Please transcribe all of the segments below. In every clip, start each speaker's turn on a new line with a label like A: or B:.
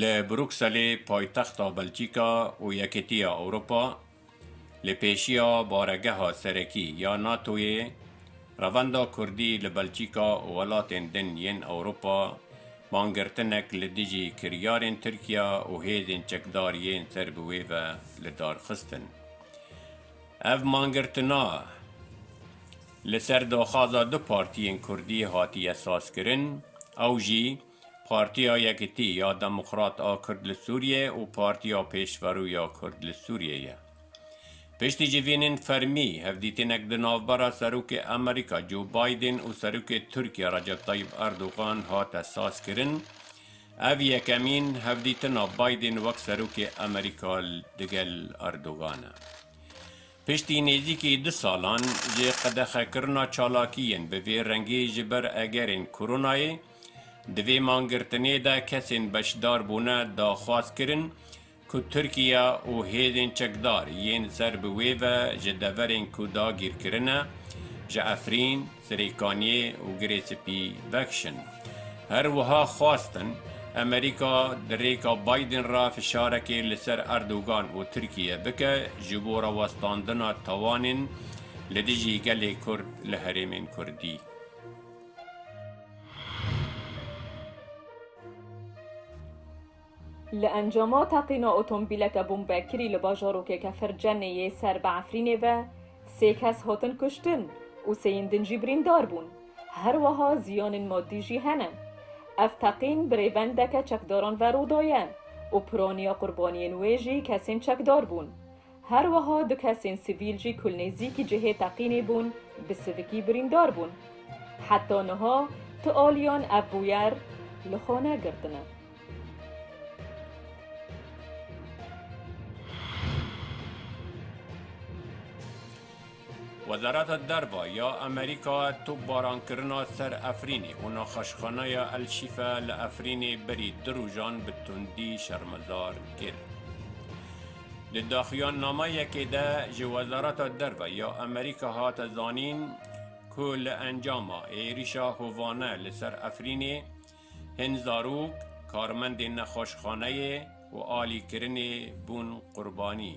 A: Li Brukselê paytexta Belçîka û Yekîtiya Ewropa li pêşiya baregeha serekî ya NATO'yê revenda Kurdî li Belçîka û welatên din yên Ewropa bangirtinek li dijî kiryarên Tirkiya û hêzên çekdar yên ser bi wê ve li dar xistin. Ev mangirtina li ser daxwaza du partiyên Kurdî hatiye sazkirin ew jî, Partiya Yekitî ya Demokrat a Kurd li Sûriyê û Partiya Pêşverû ya Kurd li Sûriyê ye. Piştî civînên fermî, hevdîtinek di navbera Serokê Amerîka Joe Biden û Serokê Tirkiyê Recep Tayyip Erdogan hate sazkirin, ev yekemîn hevdîtina Biden wek Serokê Amerîka digel Erdogan e. Piştî nêzîkî du salan ji qedexekirina çalakiyên bi vê rengî ji ber egerên koronayê, Di vê mangirtinê de kesên beşdar bûne daxwaz kirin ku Tirkiye û hêzên çekdar yên ser bi wê ve ji deverên ku dagîr kirine ji Efrîn, Sirêkaniyê û Girê Spî vekişin. Her wiha xwestin Amerîka di rêka Biden re fişarekê li ser Erdogan û Tirkiye bike ji bo rawestandina tawanên li dijî gelê Kurd li herêmên Kurdî.
B: Li encama teqîna otomobîleke bombekirî li bajarokê Kefercenê yê ser bi Efrînê ve sê kes hatin kuştin û sêyên din jî birîndar bûn. Her wiha ziyanên madî jî hene. Ev teqîn bi rêbendeke çekdaran ve rû daye û piraniya qurbaniyên wê jî kesên çekdar bûn. Her wiha du kesên sivîl jî ku li nêzîkî cihê teqînê bûn, bi sivikî birîndar bûn. Heta niha tu aliyan ev bûyer li xwe negirtine.
A: Wezareta Derve ya Amerîka topbarankirina ser Efrînê û nexweşxaneya El Şîfe li Efrînê berî du rojan bi tundî şermezar kir. Di daxuyannameyekê de ji Wezareta Derve ya Amerîka hate zanîn ku li encama êrîşa hovane li ser Efrînê hin zarok, karmendên nexweşxaneyê û alîkirinê bûn qurbanî.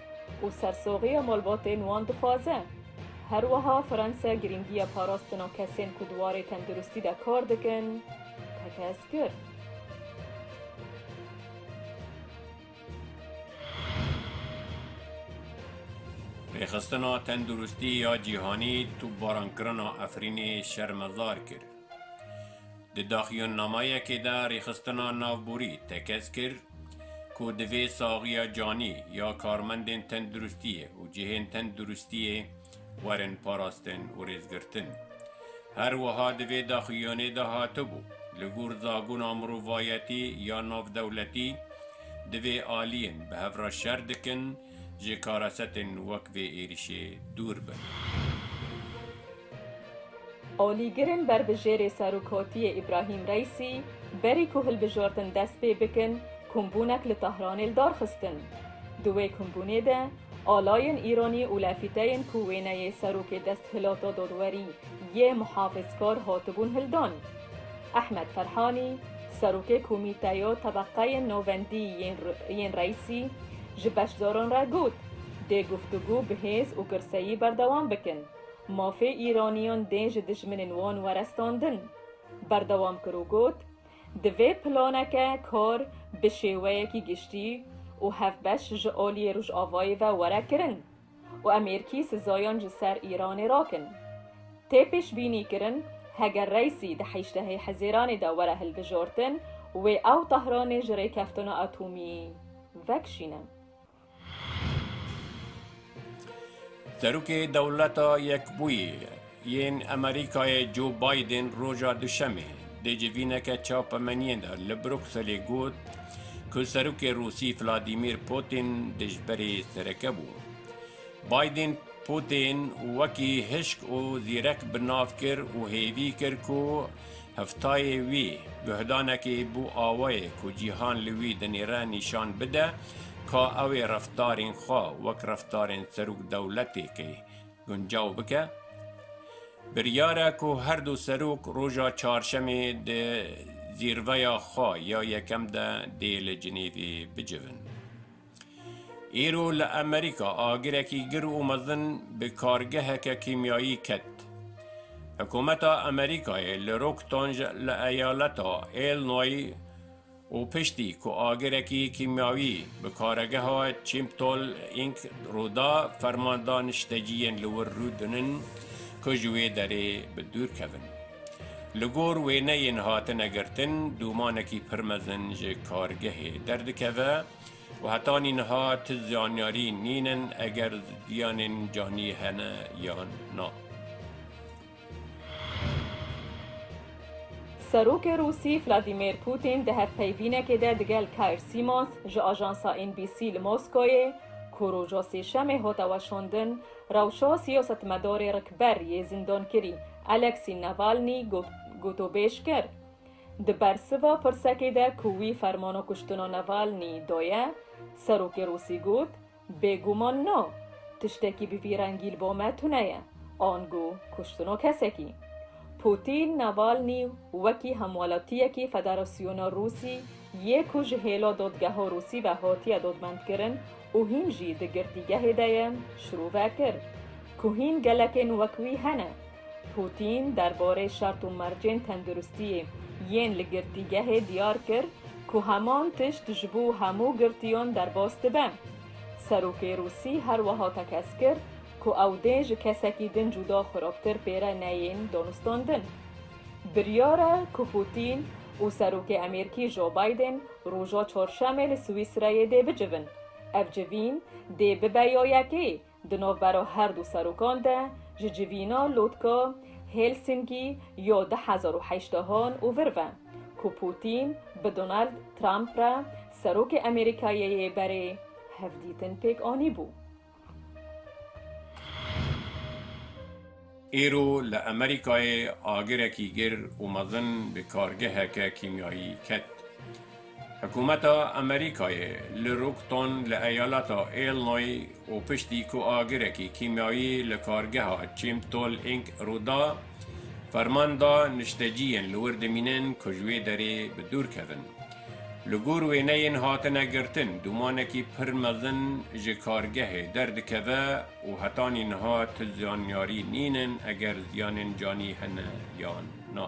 B: û sersoxîya malbatên wan dixwaze. Her wiha Fransa girîngiya parastina kesên ku di warê tenduristî de kar dikin tekez kir.
A: Rêxistina Tenduristî ya Cîhanî tûbbaran kirina Efrînê şermezar kir. Di daxuyannamayekê de rêxistina navborî tekez kir ku divê saxiya canî ya karmendên tenduristiyê û cihên tenduristiyê werin parastin û rêzgirtin. Her wiha di vê daxuyanê de hatibû, li gor zabûna mirovayetî ya navdewletî divê aliyên bi hev re şer dikin, ji karasetên wek vê êrişê dûr bin.
B: Alîgirên berbijêrê Serokatiyê Îbrahîm Reîsî berî ku hilbijardin dest pê bikin, kombûnek li Tahranê li dar xistin. Di wê kombûnê de alayên Îranî û lafîteyên ku wêneyê Serokê Desthilata Dadwerî yê Muhafizkar hatibûn hildan. Ehmed Ferhanî, Serokê Komîteyo Tebeqeyên Novendî yên Reysî ji beşdaran re got, Dê guftûgû bi hêz û girseyî berdewam bikin. Mafê Îraniyan dê ji dijminên wan were standin. Berdewam kir û got, Divê planeke kar bi şêweyekî giştî û hevbeş ji aliyê Rojavayê ve were kirin. û em êrkî sizayan ji ser Îranê rakin. Tê pêşbînîkirin heger Reîsî di heştehê Hizêranê de were hilbijartin, wê ew Tehranê ji rêkeftina atomî vekişîne.
A: Serokê Dewleta Yekbûyî Yên Amerîkayê Joe Biden roja Duşemê di civîneke çapemeniyên de li Brukselê got ku Serokê Rûsî Vladimir Putin dijberê sereke bû. Biden Putin wekî hişk û zîrek bi nav kir û hêvî kir ku heftayê wî guhdanekê bo awayê ku cîhan li wî dinêre nîşan bide ka ew ê reftarên xwe wek reftarên serok dewletêkê guncaw bike. Biryar e ku her du serok roja çarşemê di zîrveya xwe ya yekem de dê li Cinêvê bicivin. Îro li Amerîka agirekî gir û mezin bi kargeheke kîmyayî ket. Hikûmeta Amerîkayê li Rocktonge li eyaleta Illinois, û piştî ku agirekî kîmyawî bi karegeha Çîmptol Ink rû da, fermanda nişteciyên li wir rû dinin ku ji wê derê bi dûr kevin. Li gor wêneyên hatine girtin, dûmanekî pir mezin ji kargehê derdikeve û heta nîniha ti zanyarî nînin eger ziyanên canî hene yan na.
B: Serokê Rûsî Vladîmîr Pûtîn di hevpeyvînekê de digel Kair Sîmons ji ajansa NBC li Moskoyê ku roja Sêşemê hate weşandin, rewşa siyasetmedarê rikber yê zindankirî Alexî Navalnî gotûbêj kir. Di bersiva pirsekê de ku wî fermana kuştina Navalnî daye, Serokê Rûsî got, Bêguman na, tiştekî bi vî rengî li bo me tune ye, ango kuştino kesekî. Pûtîn Navalnî wekî hemwelatiyekî Federasyona Rûsî yê ku ji hêla dadgeha Rûsî ve hatiye dadmendkirin û hîn jî di girtîgehê de ye, şirove kir ku hîn gelekên wek wî hene. Pûtîn derbarê şert û mercên tenduristiyê yên li girtîgehê diyar kir ku heman tişt ji bo hemû girtiyan derbas dibe. Serokê Rûsî her wiha tekez kir ku ew dê ji kesekî din cuda xirabtir pêre neyên danûstandin. Biryar e ku Pûtîn û Serokê Emêrkî Joe Biden roja Çarşemê li Swîsreyê dê bicivin. Ev civîn dê bibe ya yekê Di navbera her du serokan de ji civîna lotka Helsingî ya du hezar û heşt han û vir ve ku Pûtîn bi Donald Trump re serokê Amerîkayê yê berê hevdîtin pêk anîbû.
A: Îro li Amerîkayê agirekî gir û mezin bi kargeheke kîmyayî ket. Hikûmeta Amerîkayê li Rockton li eyaleta Illinoy û piştî ku agirekî kîmyayî li kargeha Chimtol Inc rûda, ferman da nişteciyên li wir dimînin ku ji wê derê bi dûr kevin. Li gor wêneyên hatine girtin, dûmanekî pir mezin ji kargehê derdikeve û hetanî niha ti zanyarî nîn in eger ziyanên canî hene yan na.